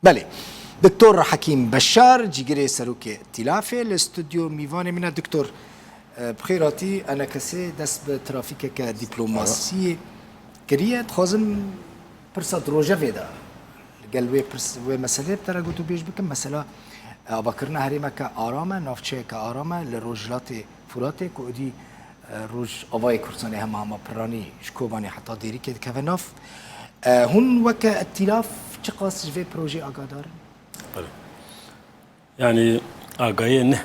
Belê. Doktor Hekîm Beşar cîgirê serokê Tîlafê li stûdyo mîvanê min e. Doktor bi xêr hatî. Enekesê dest bi trafîkeke dîplomasiyê kiriye. Dixwazim pirsa di rojevê de li gel wê pirs wê meseleyê bi te re gotûbêj bikim. Mesela avakirina herêmeke aram e, navçeyeke aram e li Rojhilatê Furatê ku êdî Rojavayê Kurdistanê hema hema Pirranî ji Kobanê heta Dêrikê dikeve nav. Hûn weke îtîlaf çiqas ji vê projeyê agadar in? Belê. Yanî agayiyê ne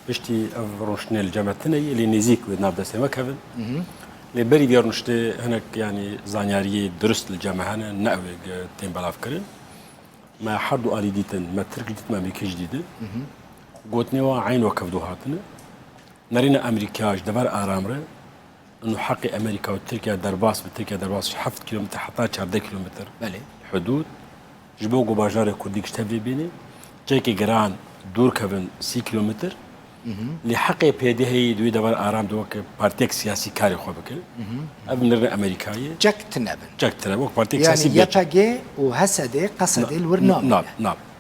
piştî ev rûniştinê li cem tune yê lê nêzîk wê di nav destê me kevin. Lê berî vê rûniştê hinek yanî zanyariyê dirust li cem hene ne ew ê tên belavkirin. Me her du alî dîtin, me tirk jî dîtin, me amrîkî jî dîtin. Gotinê wan eyn wekef do hatine. Nerîna Amerîkaya ji dever aram re û heqê Amerîka û Tirkiya derbas bi Tirkiya derbas ji heft kîlometr heta çardeh kîlometr hudûd ji bo ku bajarê Kurdî ji tevlê bîne cekê giran dûr kevin sî kîlometr lê heqê PDH'yê di wê dever aram de weke partiyek siyasî karê xwe bike. Ev nerîna Amerîkayê cek tine bin. Cek tine wek partiyek siyasî YPG û HSD, QSD li wir nabin.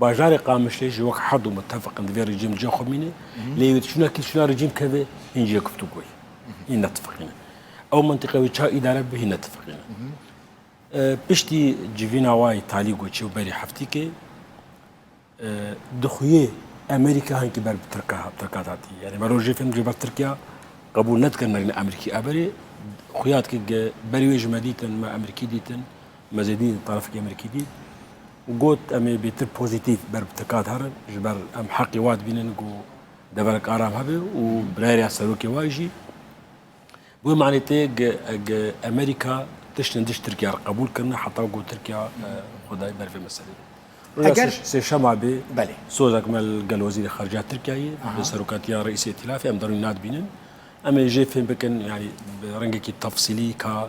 Bajarê Qamişlê ji wek Hedo mutefik in di vê rejîm cîya xwe mîne, lê ew ê çûna kî çûna rejîm keve hîn cîya guftugoyê hîn netifiqîne. Ew mentiqe wê ça îdare bibe hîn netifiqîne. Piştî civîna wayê talî ku çû berî heftîkê dixuyê Emerîka hinkî ber bi Tirka Tirkan hatî. Yanî me rojê fêm jê ber Tirkiya qebûl nedikin merîna Emerîkî. Eberê xuya dike berî wê ji me dîtin me Emerîkî dîtin. Me zêdî li tarafekî Amerîkî dît û got em ê bêtir pozîtîf ber bi tikat herin ji ber em heqê wa dibînin ku deverek aram hebe û birayeriya serokê wa jî bi wê manê tê eg Amerîka tişt li diş Tirkiya re qebûl kirine heta ku Tirkiya xwe dayê ber vê meselê de. Eger sêşema bê belê sozek me li gel wezîrê xarica Tirkiyeyê bi serokatiya reîsê îtîlafê em derûnî nadibînin. Em ê jê fêm bikin yanî bi rengekî tefsîlî ka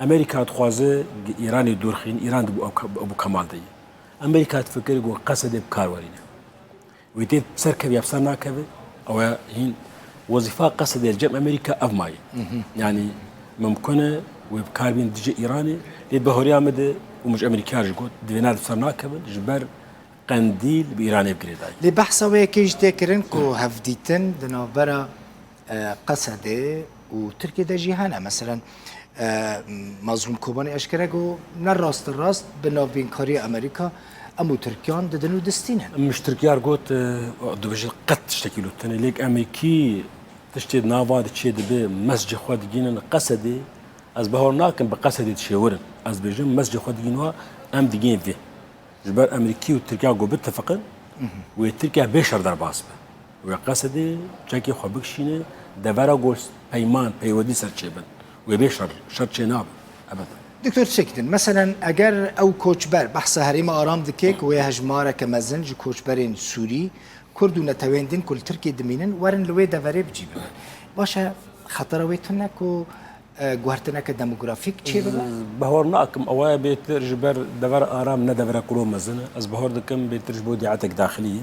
Amerîka dixwaze di Îranê dûr xîn, Îran di Ebû Kemal de ye. Amerîka difikir ku Qesedê bi kar werîne. Wê tê ser kev ya ser nakeve, ew e hîn wezîfa Qesedê li cem Amerîka ev maye. Yanî mimkun e wê bi kar bîn dijî Îranê, lê bi horiya min de û min ji Amerîkaya jî got divê nav ser nakevin ji ber Qendîl bi Îranê bi girêdayî. Lê behsa wê yekê jî tê kirin ku hevdîtin di navbera Qesede û Tirkiyê de jî hene. Meselen Mazlûm Kobanî eşkere got ne rast rast bi navbînkariya Amerîka em û Tirkiyan didin û distînin. Mij Tirkiyar got dibêje qet tiştekî li tenê lêk em ê kî tiştê di nava de çê dibe mescê xwe digînin Qesedê ez bawer nakim bi Qesedê dişêwirin. Ez dibêjim mescê xwe digîn wa em digên vê. Ji ber em ê kî û Tirkiya ku bitifiqin wê Tirkiya bê şer derbas be. Wê qesedê çekê xwe bikişîne devera ku peyman, peywedî ser çêbin. Wê bê şer, şer çê nabin. Ebed. Doktor çêk din. Meselen eger ew koçber, behsa herêma aram dike ku wê hejmareke mezin ji koçberên Sûrî, Kurd û neteweyên din ku li Tirkiyê dimînin werin li wê deverê bicî bibe. Baş e xetera wê tune ku guhertineke demografîk çê bibe? Bihor nakim ew aya bêtir ji ber devera aram ne devera ku lo mezin e. Ez bihor dikim bêtir ji bo dîatek daxilî ye.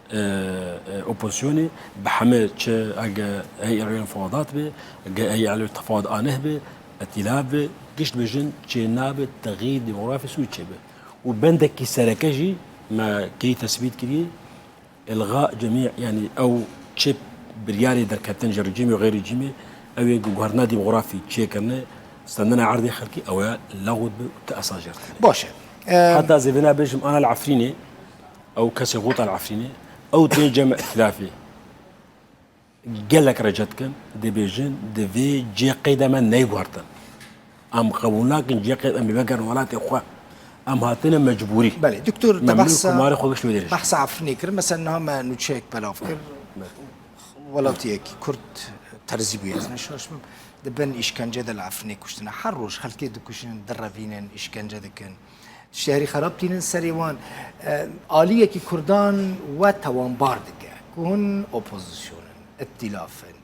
Opozisyonê bi heme çi ege ey ereyên fadat be, ge ey ereyên tefad aneh be, îtîlaf be, gişt be jin çê nabe texîr demografî sûc çê be. Û bendekî sereke jî me key tesbît kirî ilga cemî yanî ew çi biryarê derketin ji rejîmê û xeyr rejîmê ew ê guherna demografî çê kirine standina erdê xelkî ew e lewt be û ti esas jert kirine. Baş e. Heta zêde nabêjim ana li Efrînê Ew kesê Ghuta li Efrînê, ew tê cem îtilafê. Gelek rece dikin, dibêjin divê cê qeyda me neyguhertin. Em qebûl nakin cê qeyda em vegerin welatê xwe. Em hatine mecbûrî. Belê, doktor te behsa behsa Efrînê kirin, mesela niha me nûçeyek belav kir. Welatiyek Kurd terzî bûye, ez neşaş bim. Di bin îşkence de li Efrînê kuştine. Her roj xelkê dikuşin, direvînin, îşkence dikin. Şerî xerab tînin serê wan. Aliyekî Kurdan we tewanbar dike ku hûn opozîsyon in, îtîlaf in.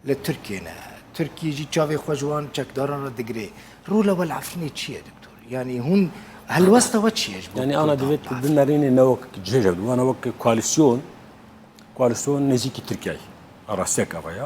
Li Tirkiyê ne. Tirkiyê jî çavê xwe ji wan çekdaran re digirê. Rola we li Efrînê çi ye doktor? Yanî hûn helwesta we çi ye ji bo? Yanî ana divê tu bimerînî ne wek cihêj hebû, ana wek koalîsyon, koalîsyon nêzîkî Tirkiyeyê. Rastiyek ava ye.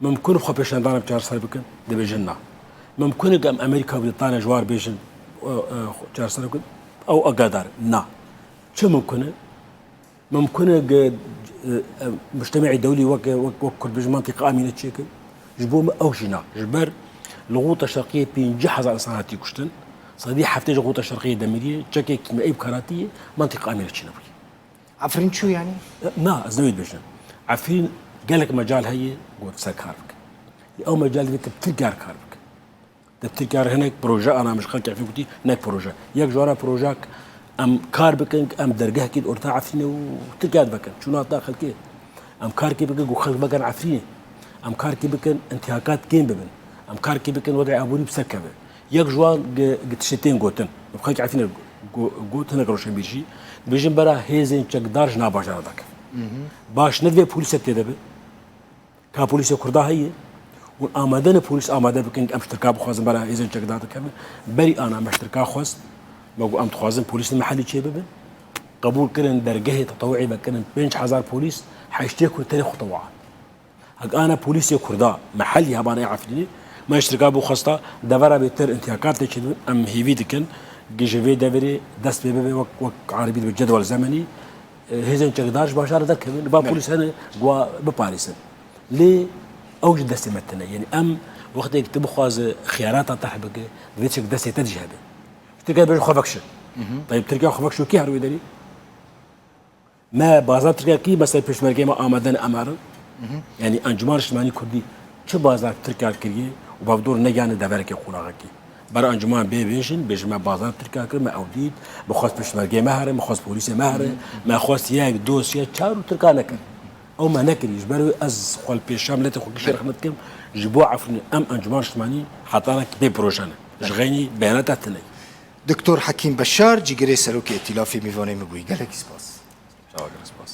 Mimkun e xwepêşandana bi çarser bikin? Dibêjin na. Mimkun e ku em Amerîka û Brîtanya ji war bêjin û çarser bikin? Ew agadar e. Na. Çi mimkun e? Mimkun e ku muştemacê dewlî wek wek Kurd bêjin mantiqa Amîne çi yek e? Ji bo min ew jî na. Ji ber li Ghuta Şerqiyê pêncî hezar insan hatiye kuştin. Sedî heftê ji Ghuta Şerqiyê Demiriyê çekekî me ê bi karatî yê mantiqa Amîne çi nebûye. Efrîn çû yanî? Na, ez ne wê dibêjim. Efrîn gelek mecal heye ku wê bi ser kar bike. Lê ew mecal divê tu bi Tirkiya re kar bike. Tu bi Tirkiya re hinek proje ana min ji xelkê Efrîn gotî hinek proje. Yek ji wan a projeya ku em kar bikin ku em dergehekê di orta Efrînê û Tirkiya de vekin. Çûna dina xelkê. Em karekê bikin ku xelk vekin Efrînê. Em karekê bikin întihakat kêm bibin. Em karekê bikin wedîa aborî bi ser keve. Yek ji wan tiştê tên gotin, bi xelkê Efrînê got hinek rewşenbîr jî, dibêjin bera hêzên çekdar ji nav bajara veke. Baş ne divê polîsek tê de be. Ka polîsê Kurda heye û amade ne polîs amade bikin em ştirka bixwazin bera hêzên çekdar dikevin. Berî ana me ştirka xwest me got em dixwazin polîs li Mihelî çê bibin. Qebûl kirin dergehê tetewî vekirin pênc hezar polîs heştê ku li tenê xwe tewa. Hek ana polîsê kurda me helî hebanê Efrînê me îştirka bû xwesta devera bê tir intîyakat tê çêdibin em hêvî dikin gi ji vê deverê dest pê bibe wek wek eribî dibe cedwel zemenî hêzên çekdar ji bajarê derkevin ba polîs hene guwa biparêsin lê ew ji destê me tine yênî em wextê tu bixwaze xiyarata terh bike divê çek destê te jî hebe Tirkiye bêje xwe vekşin Tayyip Tirkiye xwe vekşo kê her wê derî Me baza Tirkiye kî me ser pêşmergeyê me amade ne Emer. Yanî Encûmana Niştimanî Kurdî çi baza Tirkiye kiriye û bav dor negihane deverekê qonaxe kî. Ber encûman bê bêjin, bêjin me baza Tirkiye kir, me ew dît, me xwest pêşmergeyê me here, me xwest polîsê me here, me xwest yek, du, sê, çar û Tirka nekir. Ew me nekiriye. Ji ber wê ez xwe li pêşiya miletê xwe kişî rexmet dikim, ji bo Efrînê em Encûmana Niştimanî hetanek bê proje ne. Ji xeynî beyanata tune ye. Doktor Hekîm Beşar, Cîgirê Serokê Îtîlafê Mîvanê min bûyî. Gelekî spas. Çawa gelek spas.